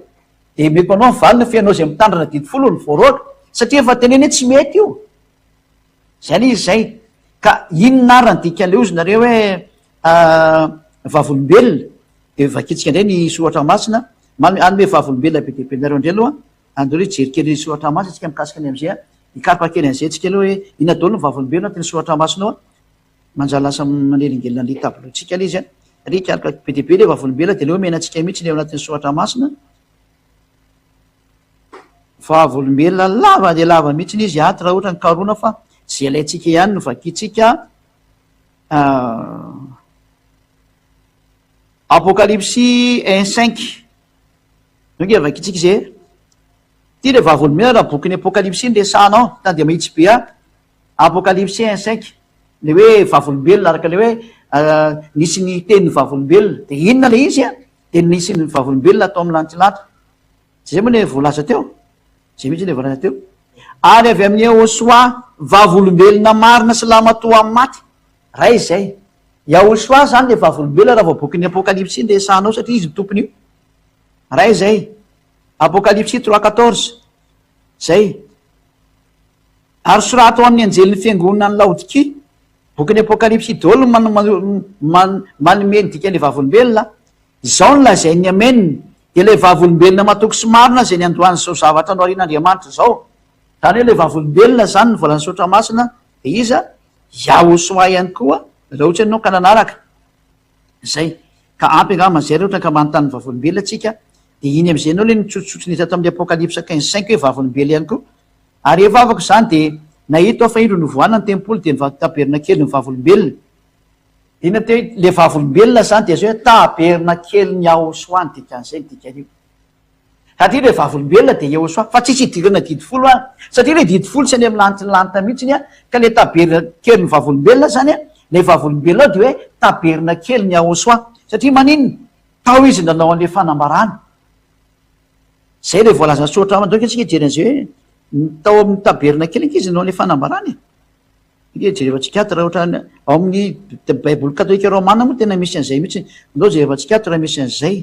Dia omeko anao ny valiny fa ianao izay mitandrina didy folo no voaroaka, satria efa tenenina hoe tsy mety io. Zay le izy zay. Ka inona ary ny dikan'ilay ozy nareo hoe vavolombelona? Dia vakintsika indray ny soratra masina, manome hanome vavolombelona be dia be anareo indray aloha, andao re hijery kely soratra masina tsika mikasika ny amin'izay, hikaroka kely an'izay tsika aloha hoe inona daholo ny vavolombelona atin'ny soratra masina ao, manjary lasa manelingelina an'le tableau tsika le izy an, re hikaroka be dia be le vavolombelona dia aleo omena antsika mihitsy le ao anatin'ny soratra masina, Vavolombelona lava dia lava mihitsy izy ato raha ohatra ny karohina fa izay ilaintsika ihany no vakintsika. Apokalypsy un cinq, zao nge vakintsika izay e. Ity ilay vavolombelona raha bokin'ny apokalypsy no resahana ao, tany dia mahitsy be aho. Apokalypsy un cinq, ilay hoe vavolombelona araka ilay hoe nisy niteny ny vavolombelona, dia inona ilay izy an? Dia ny sin'ny vavolombelona atao amin'ny lantilanty. Tsy izay moa ilay voalaza teo? Izay mihitsy ilay voalaza teo. Ary avy amin'i Yahoshuah, vavolombelona marina sy lahimatoa amin'ny maty. Ray izay. Yahoshuah izany ilay vavolombelona raha vao bokin'ny Apokalypsy no resahanao satria izy no tompon'io. Ray izay. Apokalypsy trois quatorze. Izay. Ary soraty ho amin'ny anjelin'ny fiangonana any Laodikia, Bokin'ny Apokalypsy i Dôly no manome ny dikan'ilay vavolombelona, Izao no lazain'ny Amen, dia ilay vavolombelona matoky sy marina izay niandohan'izao zavatra noharian'Andriamanitra izao, izany hoe ilay vavolombelona izany ny volan'ny soratra masina dia iza? Yahosoa ihany koa, raha ohatra ianao ka nanaraka. Zay. Ka ampy angaha mazay raha ohatra ka manontany vavolombelona tsika dia iny amizay enao le nitsotsotso ny hita tao amin'ny apocalypse quinze cinq hoe vavolombelona ihany koa ary efa afaka izany dia nahita aho fa indro novohana ny tempoly dia nivadika tabernakelin'ny vavolombelona. Inona teo ilay vavolombelona izany dia zay hoe tabernakelin'i Yahoshuah ny dikan'izay ny dikan'io. Satria ilay vavolombelona dia eo soa fa tsisy idirana didy folo any satria ilay didy folo tsy any amin'ny lanitry ny lanitra mihitsiny an, ka ilay tabernakelin'ny vavolombelona izany an, ilay vavolombelona ao dia hoe tabernakelin'i Yahoshua satria maninona? tao izy nanao an'ilay fanambarana. Izay ilay voalazan'ny soratra ao, antsika hijery an'izay hoe tao amin'ny tabernakely ange izy nanao an'ilay fanambarana e! Ange jereva tsikiatra raha ohatra ao amin'ny baiboly katolika romana moa tena misy an'izay mihitsy, andao jereva tsikiatra raha misy an'izay.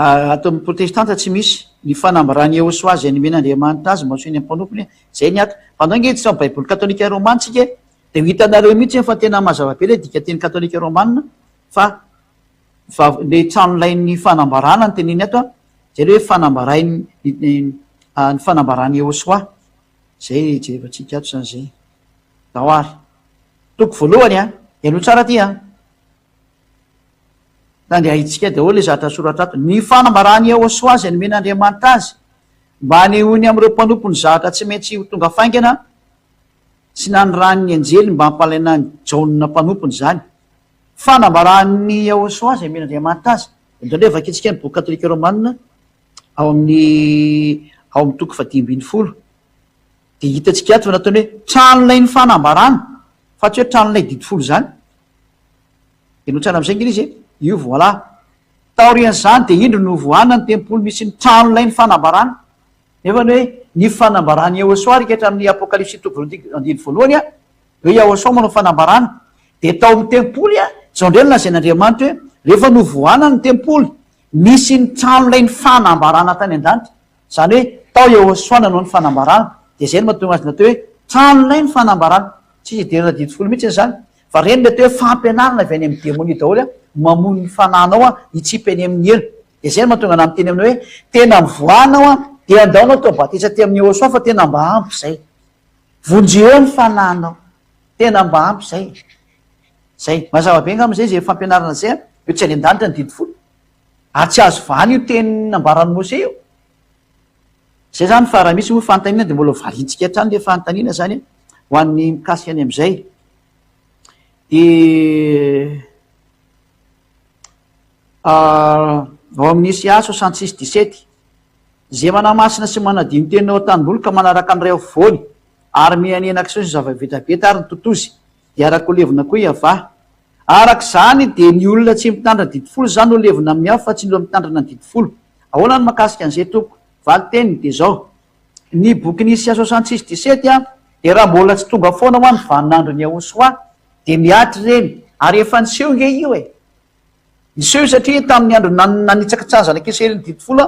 Ato amin'ny protestanta tsy misy ny fanambaràn'i Iehosoa izay nomen'Andriamanitra azy mba ho sain'ny mpanompony. Izay ny ato. Fa ndao ange hiditra ao amin'ny Baiboly katolika romana isika e! Dia ho hitanareo mihitsy eny fa tena mazava be ilay dikanteny katolika romana fa vav- ilay tranolain'ny fanambaràna no teneniny ato an! Izay ilay hoe fanambarain'ny ny fanambaràn'i Iehosoa. Izay jerevantsika ato izany izay. Zao ary. Toko voalohany an! Henoy tsara ity an! Tandriahintsika daholo ilay zatra soratra ato. Ny fanambaràn'i Yehosua izay nomen'Andriamanitra azy mba hanehoany amin'ireo mpanompo ny zatra tsy maintsy ho tonga faingana sy naniràn'ny anjely mba hampalaina an'i Jaona mpanompony izany. Fanambaràn'i Yehosua izay nomen'Andriamanitra azy. Eto indray vakintsika ny boky katolika romanina ao amin'ny ao amin'ny toko fahadimy ambin'ny folo. Dia hitantsika ato fa nataony hoe tranonay ny fanambarana, fa tsy hoe tranonay didy folo izany. Dia notsarana amin'izay ange izy e, io voilà. Taorian'izany dia indro novohana ny tempoly misy ny tranonay ny fanambarana. Nefa ny hoe ny fanambaran'i Yehôsoa ary kehitra amin'ny Apôkalipsy toko voalohany andininy voalohany a, hoe Yahôsoa manao fanambarana. Dia tao amin'ny tempoly a, izao indray no lazain'Andriamanitra hoe rehefa novohana ny tempoly, nisy ny tranonay ny fanambarana tany an-danitra. Izany hoe tao Yehosua nanao ny fanambarana, dia izay no mahatonga azy natao hoe tranonay ny fanambarana. Tsy misy hidirana didy folo mihitsy izany. Fa ireny mety hoe fampianarana avy any amin'ny demonia daholo hoe mamono ny fanahinao hitsipy any amin'ny helo. Dia izay no mahatonga anà miteny aminao hoe tena mivoahana aho, dia andao natao batisa tamin'i Yehosua fa tena mba ampy izay. Vonjeo eo ny fanahinao. Tena mba ampy izay. Izay. Mazava be angamba izay izay fampianarana izay. Hoe tsy any an-danitra ny didy folo. Ary tsy azo vahana io teny nambaran'i Mose io. Izay izany fa raha misy moa fanontaniana dia mbola valintsika hatrany ilay fanontaniana izany ho an'ny mikasika ny amin'izay. Dia ah, ao amin'ny Isia soixante six dix sept, Izay manamasina sy manadino ny teniny ao an-tanimboly ka manaraka ny ray afovoany ary mihanihana kisoa sy zava-betabeta ary ny totozy, dia araka ho levona koa i Avah, Araka izany dia ny olona tsy mitandrina didy folo izany no levona amin'ny afo fa tsy ny olona mitandrina ny didy folo. Ahoana no mahakasika an'izay tompoko? Valin-teniny dia izao, Ny bokin'i Isia soixante six dix-sept dia raha mbola tsy tonga foana hoa ny vanin'andron'i Yahoshuah dia mihatra ireny, ary efa niseho nge io e! Niseho io satria tamin'ny andro nanitsakitsahan'ny zanak'i Israely ny didy folo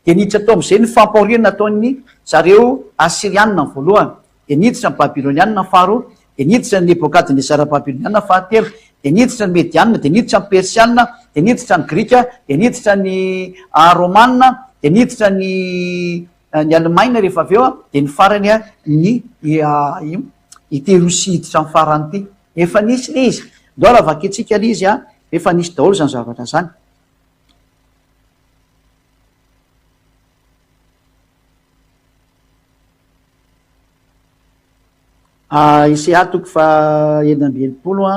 dia niditra tao amin'izay ny fampahoriana nataon'ny zareo Asyrianina voalohany. dia niditra ny Babylonianina faharoa, dia niditra ny Nebokadnesara Babylonianina fahatelo, dia niditra ny Medianina, dia niditra ny Persianina, dia niditra ny Grika, dia niditra ny Romanina, dia niditra ny ny Alemaina rehefa avy eo, dia ny farany ny ity Rosia hiditra ny farany ity. Efa nisy ilay izy. Ndao raha vakintsika ilay izy, efa nisy daholo izany zavatra izany. Ise atoko faha enina amby enimpolo a,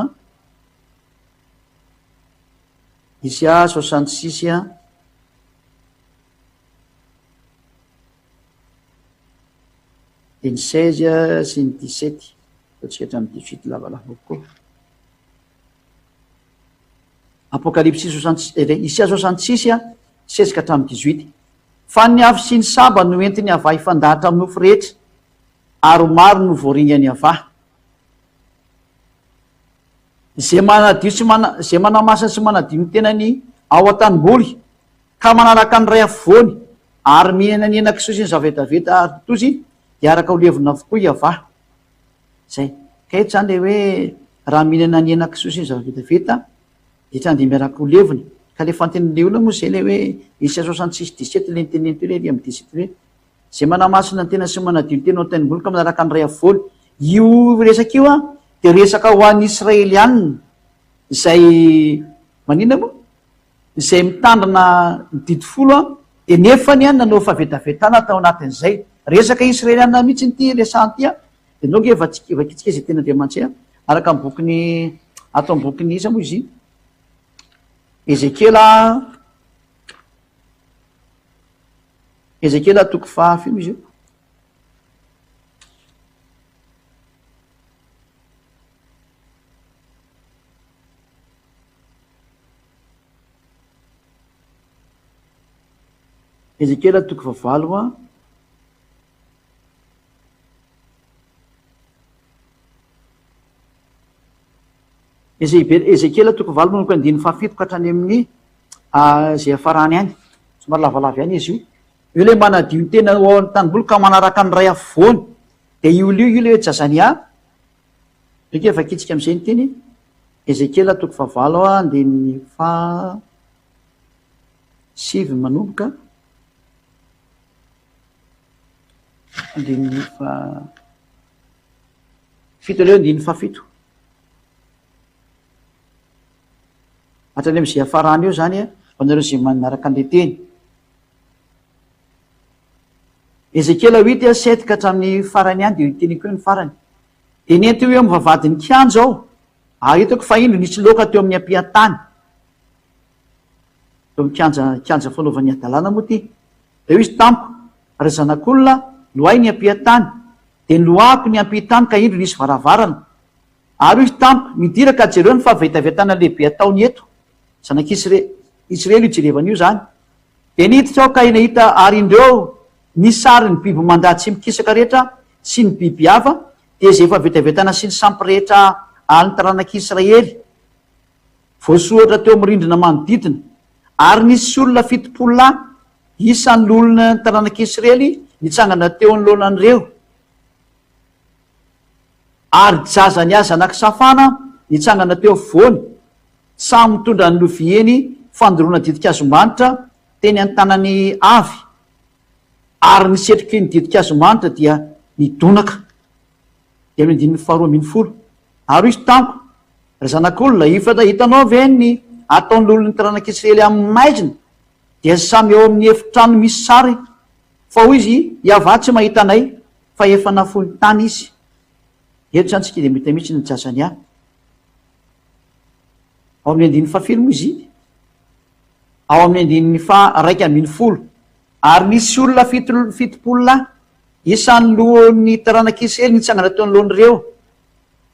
ise a soixante six a, dia ny seize a sy ny dix sept fa tsy hatramin'ny dix huit lavalava kokoa. Apokalipsy Isias soixante six, seize hatramin'ny dix huit Fa ny avo sy ny saba no entin'i Avah hifandahatra amin'ny nofo rehetra, ary maro no voaringan'i Avah. Izay manadio sy mana, izay manamasina sy manadio ny tenany ao an-tanimboly, ka manaraka ny Ray Afovoany, ary mihinana ny henan-kisoa sy ny zava-vetaveta ary totozy, dia araka ho levona avokoa i Avah. Zay. Ka eto zany le hoe raha mihinana ny hena kisoa sy ny zava-bitavita de tsy handimby ara-po levona. Ka le fantenin'le olona moa zay le hoe ici à soixante six dix sept le niteneniny teo lery amin'ny dix sept hoe zay manamasina ny tenany sy manadio ny tenany ao an-tenimboly ka manaraka ny ray am-folo. Io resaka io an de resaka ho an'ny Israelianina zay maninona moa? izay mitandrina ny didy folo dia nefany nanao fahavetavetana tao anatin'izay resaka Israeliana mihitsy ity resahana ity dia nao nge vatsika vakitsika izay teny Andriamanitsy araka ny bokin'ny ato amin'ny bokin'ny iza moa izy Ezekiela Ezekiela toko fahafiry izy io Ezekiela toko fahavalo a. Ezekiela toko valo manomboka andininy fahafito ka hatrany amin'ny ah, izay hafarany any. Somary lavalava ihany izy io. Io ilay manadio ny tena ao amin'ny tanimboly ka manaraka ny ray afovoany. Dia io lio io ilay hoe Jazania. Ekeo vakintsika amin'izay ny teny Ezekiela toko fahavalo andininy faha sivy manomboka andininy faha fito aleo andininy faha fito hatrany amin'izay hafarana eo izany ho anareo izay manaraka an'ilay teny. Ezekiela huit a sept ka hatramin'ny farany ihany dia io teniko io ny farany. Dia nentiko eo amin'ny vavahadin'ny kianja aho, ary hitako fa indro nisy loaka teo amin'ny ampian-tany, teo amin'ny kianja, kianja fanaovany hadalana moa ity. Dia hoy izy tamiko, Ry zanak'olona, loahy ny ampian-tany. Dia niloahako ny ampian-tany ka indro nisy varavarana. Ary hoy izy tamiko, Midira ka jereo ny fahavetavetana lehibe ataony eto. Zanak'Israely, Israely io jerevana io izany. Dia niditra aho ka eny hita ary indreo ny sary ny biby mandà tsy mikisaka rehetra sy ny biby hafa dia izay efa vetavetana sy ny sampy rehetra alin'ny taranak'i Israely voasoratra teo amin'ny rindrina manodidina. Ary nisy olona fitopolo lahy, isan'ny loholona ny taranak'i Israely, nitsangana teo anoloanan'ireo. ary jaza ny aza nakisafana nitsangana teo afovoany samy mitondra ny loviany fandoroana ditin-kazo manitra teny an-tanany avy ary ny setroky ny ditin-kazo manitra dia nidonaka dia ny andininy faharoa ambin'ny folo ary hoy izy tamiko ry zanak'olona ifatra hitanao ve ny ataon'ny lolon'ny taranak'i Israely amin'ny maizina dia samy ao amin'ny efitrano misy sary fa hoy izy Iavah tsy mahita anay Fa efa nafoiny tany izy. Eto izany tsy kida mita mihitsy ny Jazania. Ao amin'ny andininy fahafilo moa izy iny. Ao amin'ny andininy faha raika ambin'ny folo. Ary nisy olona fito fitopolo lahy, isan'ny lohan'ny taranak'i Isrealy nitsangana teo anoloan'ireo.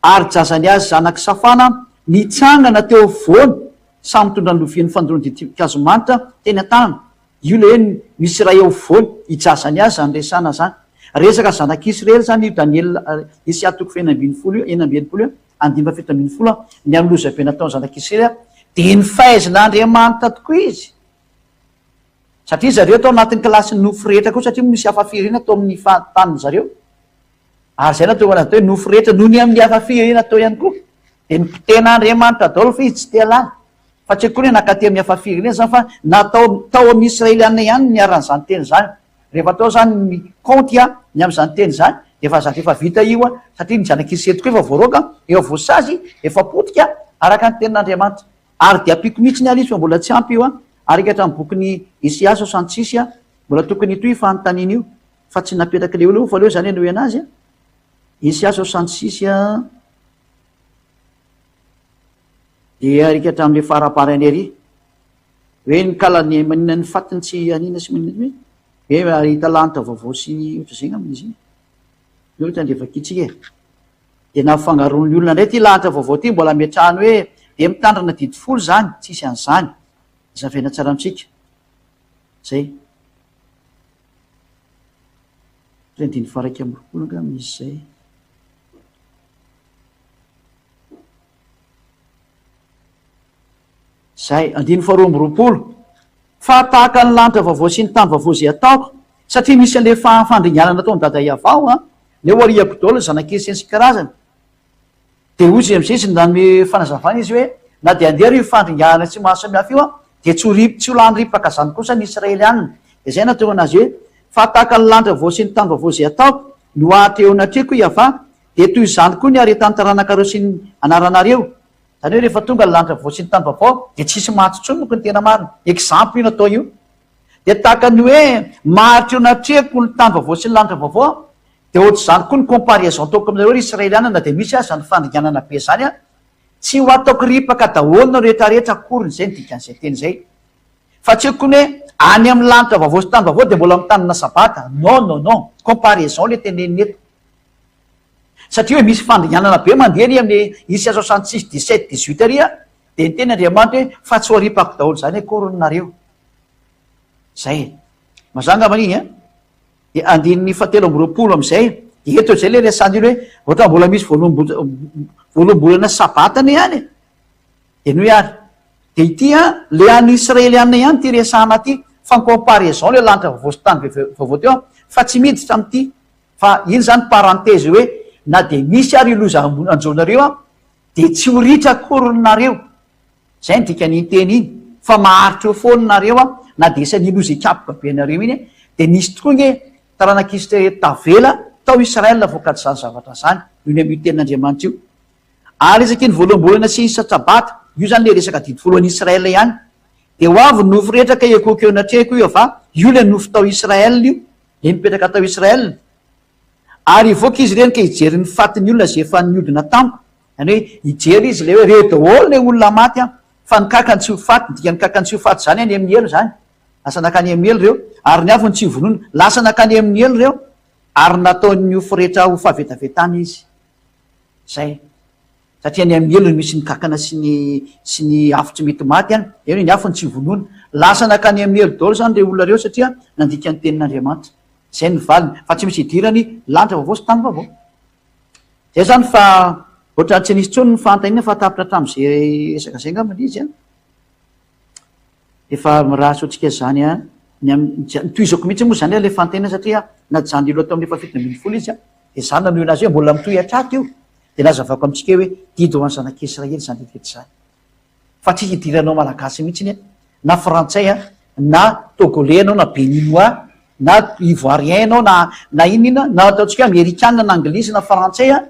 Ary Jazania zanak'i Safana nitsangana teo afovoany, samy nitondra ny lovian'ny fandoroan'ny ditin-kazo manta teny an-tanany, Io le eny misy iray eo afovoany hijaza ny azy zany resana zany. Resaka zanak'i Israely zany io Daniela Esia toko fahenina ambin'ny folo io, enina amby enimpolo eo, andininy fahafito ambin'ny folo an, ny amin'ny loza be nataon'ny zanak'i Israely an, dia ny fahaizan'Andriamanitra tokoa izy, satria izy zareo tao anatin'ny kilasin'ny nofo rehetra koa satria misy hafa firenena tao amin'ny fahantanin-dry zareo, ary izay nahatonga anazy atao hoe nofo rehetra noho ny amin'ny hafa firenena tao ihany koa, dia ny mpitena Andriamanitra daholo fa izy tsy te-halala. fa tsy akory hoe nankaty amin'ny hafa firenena izany fa na tao tao amin'ny Israeliana ihany ny niharan'izany teny izany. Rehefa atao izany ny kaonty ny amin'izany teny izany dia efa zatra efa vita io satria ny zanak'Isety koa efa voaroaka, efa voasazy, efa potika araka ny tenin'Andriamanitra. Ary dia ampiako mihitsy ny ary izy fa mbola tsy ampy io ary eka hatramin'ny bokin'i Isiasy ao Santsisy mbola tokony hitohy io fanontaniana io fa tsy napetrak'ilay olona io fa aleo izany henoy an'azy. Isiasy ao Santsisy. Dia alika hatramin'ilay fara-parany ery. Hoe ny kala ny maninona ny fatin'ny tsy aniana sy maninona hoe hoe mahita lanitra vaovao sy ny ohatr'izay angamba izy iny. Ny ohatra dia vakintsika e. Dia na fangaron'ny olona indray ity lanitra vaovao ity mbola ametrahany hoe dia mitandrina didy folo izany, tsisy an'izany. Azavaina tsara amintsika. Izay. Hoe andininy faha iraika amby roapolo angamba izy izay. Izay, andininy faharoa amby roapolo, Fa tahaka ny lanitra vaovao sy ny tany vaovao izay ataoko, satria misy an'ilay fandringanana ataon'i Dada Iavao, an, ilay Wariako daholo zanak'i Eseny sy ny karazany. Dia hoy izay amin'izay izy nanome fanazavana izy hoe, Na dia handeharo io fandringanana tsy mahasamihafa io an, dia tsy ho ri, tsy ho lany ripaka izany kosa ny Israelianina. Dia izay no nahatonga an'azy hoe, Fa tahaka ny lanitra vaovao sy ny tany vaovao izay ataoko, no hahatrehona atrehiko hoy Iavah, Dia toy izany koa ny haretan'ny taranakareo sy ny anaranareo. Izany hoe rehefa tonga ny lanitra vaovao sy ny tany vaovao dia tsisy maty intsony moko ny tena marina. Exemple io natao io. Dia tahaka ny hoe maharitra eo natrehako ny tany vaovao sy ny lanitra vaovao aho. Dia ohatr'izany koa ny comparaison ataoko aminareo ry Israeliana na dia misy aza ny fandringanana be izany an. Tsy ho ataoko ripaka daholo ny rehetrarehetra akoriny izay ny dikan'izay teny izay. Fa tsy hoe koa ny hoe any amin'ny lanitra vaovao sy tany vaovao dia mbola mitanana sabata. Non non non. Comparaison ilay tenenina eto. Satria hoe misy fandringanana be mandeha ary amin'ny isa soixante six, dix sept, dix huit ary dia niteny Andriamanitra hoe fa tsy ho aripako daholo izany akoriny nareo. Izay e. Mazà angambany iny an. Dia andininy fahatelo amby roapolo amin'izay dia eto izay ilay resahan'io hoe ohatran'ny mbola misy voaloam-bolana sabatana ihany e. Dia noho ihany. Dia ity an, ilay an'ny Israeliana ihany ity resahana ity, fa en comparaison ilay lanitra vaovao sy tany vaovao teo an, fa tsy miditra amin'ity Fa iny zany parenthèse hoe na dia misy ary io loza anjoanareo io an, dia tsy ho ritra akory nareo, zay ny dikan'iny teny iny, fa maharitra eo foana nareo an, na dia isan'iny loza hikapoka be anareo iny an, dia nisy tokoa nge taranak'Israely tavela tao Israël vokatry zany zavatra zany, io ny amin'io tenin'Andriamanitra io. Ary resaka iny voaloham-bolana sy iny sasabata, io zany le resaka didy folo any Israël ihany, dia ho avy ny nofo rehetra ka ekoiko eo anatrehiko io ava, io le nofo tao Israël io, dia nipetraka tao Israël ary hivoaka izy ireny ka hijery ny fatin'ny olona izay efa niodina tamiko, izany hoe hijery izy ilay hoe reo daholo ilay olona maty an! fa ny kankany tsy ho faty, ny dikan'ny kankany tsy ho faty izany any amin'ny helo izany, lasa nankany amin'ny helo ireo, ary ny avy no tsy hovonoina, lasa nankany amin'ny helo ireo, ary nataony ho firehetra ho fahavetavetana izy. Izay. satria any amin'ny helo no misy ny kankana sy ny sy ny afo tsy mety maty any, eny hoe ny afo no tsy vonoina. Lasa nankany amin'ny helo daholo izany ireo olona ireo satria nandika ny tenin'Andriamanitra. Izay no valiny, fa tsy misy idirany lanitra vaovao sy tany vaovao. Izay izany fa ohatrany tsy nisy intsony ny fanontaniana fa tapitra hatramin'izay resaka izay angamba ilay izy an! Efa mirary antsika izany an! Tohizako mihitsy moa izany ilay fanontaniana satria najanon'Ilo tamin'ny efa fito ambin'ny folo izy dia izaho nanohy an'azy hoe mbola mitohy hatraty io dia nazavako amintsika hoe didy ho an'ny zanak'i Israely izany didintsika izany fa tsy hidiranao Malagasy mihitsy an! na Frantsay an! na Togolais ianao na Beninois na Ivoirien ianao na na inona inona na ataontsika hoe Amerikana na Anglisy na Frantsay an!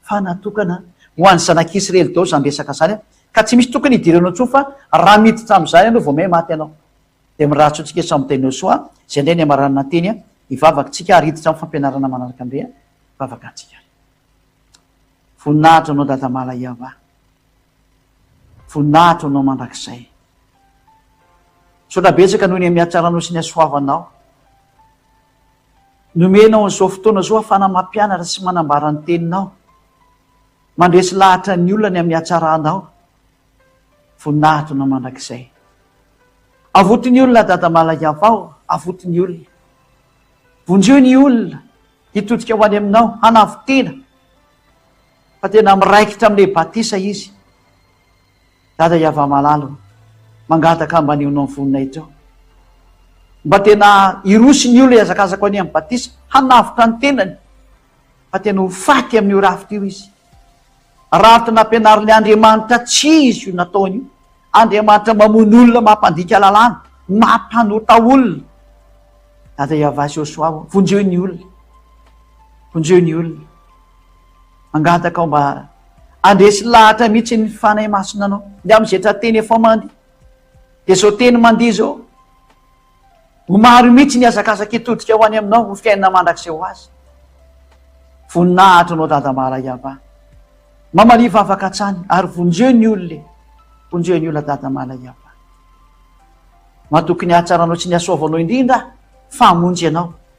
fa natokana ho an'ny zanak'i Isrely daholo izany resaka izany ka tsy misy tokony hidira anao intsony fa raha miditra amin'izany ianao vao may maty ianao. Dia mirary tsotsikera samy miteny ho soa izay indray ny hamaranana ny teny hivavaktsika ary hiditra amin'ny fampianarana manaraka indray ny vavakantsika ary. Voninahitra ho anao Dada Malayava. Voninahitra ho anao mandrakizay. Misaotra betsaka noho ny hamihatsarànao sy ny hasoavanao. Nomenao an'izao fotoana izao ahafahana mampianatra sy manambara ny Teninao. Mandresy lahatra ny olona ny amin'ny hatsaranao. Voninahitro na mandrakizay. Avoty ny olona Dada Malaigavao, avoty ny olona. Vonjeo ny olona hitodika ho any Aminao, hanavo tena fa tena miraikitra amin'ilay batisa izy. Dada Yavamalalo mangataka ambanionao ny voninahitra ao mba tena hiroso ny olona hihazakazaka any amin'ny batisa hanavotra ny tenany fa tena ho faty amin'io rafitra io izy raha tena ampianarin'ny Andriamanitra tsy izy io nataony io Andriamanitra mamono olona mampandika lalàna mampanota olona Dada Yavasy Osoavo vonjeo ny olona vonjeo ny olona Mangataka aho mba handresy lahatra mihitsy ny Fanahy Masina anao. Dia amin'izay tra-teny efa mandeha. Dia izao teny mandeha izao. Ho maro mihitsy ny hazakazaka hitodika ho any aminao, ho fiainana mandrakizay ho azy. Voninahitra anao Dada Mara Iavà. Mamalia vavaka hatsany ary vonjeo ny olona e. Vonjeo ny olona Dada Mara Iavà. Matoky ny hahatsaranao sy ny hasoavanao indrindra aho, famonjy ianao.